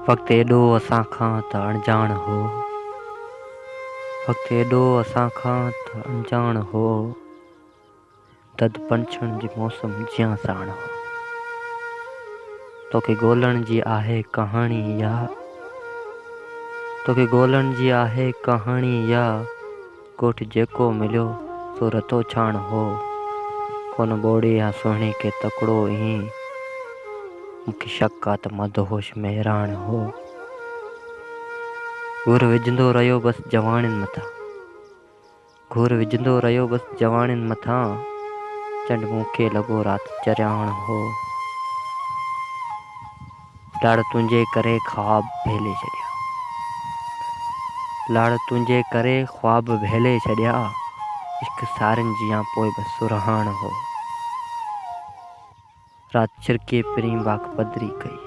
وقت ايڏو اسان کان ته اڻڄاڻ هو. وقت ايڏو اسان کان ته اڻڄاڻ هو. دد پنڇڻ جي موسم جيان ساڻ هو. توکي ڳولڻ جي آهي ڪهاڻي اها. توکي ڳولڻ جي آهي ڪهاڻي اها. ڳوٺ جيڪو مليو سو رتو ڇاڻ هو. هن ٻوڙي يا سهڻي کي تڪڙو ايئن مون کي شڪ آ ته مدهوش مهراڻ هو. گهر وجهندو رهيو بس جواڻين مٿان. گهر وجهندو رهيو بس جواڻين مٿان چنڊ مون کي لڳو رات چرياڻ هو. لاڙ تنهنجي ڪري خواب ڀيلي ڇڏيا. لاڙ تنهنجي ڪري خواب ڀيلي ڇڏيا. عشق سارين جيان پوء به سرهاڻ هو. رات ڇرڪي پرين واک پڌري ڪئي.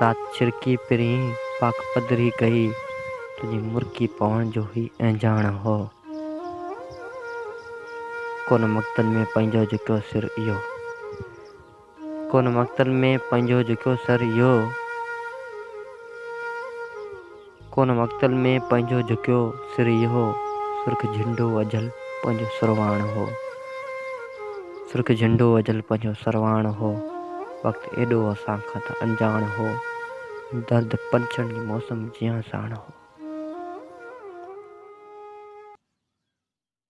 رات ڇرڪي پرين واک پڌري ڪئي. تنهنجي مرڪي پوڻ جو هي اهنجاڻ هو. ڪونه مقتن ۾ پنهنجو جتو سر اهو. ڪونه مقتل ۾ پنهنجو جهڪيو سر اهو. ڪونه مقتل ۾ پنهنجو جهڪيو سر اهو. سرخ جهنڊو اجهل پنهنجو سرواڻ هو. سرخ جهنڊو اجهل پنهنجو سرواڻ هو. وقت ايڏو اسان کان ته انجاڻ هو. درد پنڇن جي موسم جيان ساڻ هو.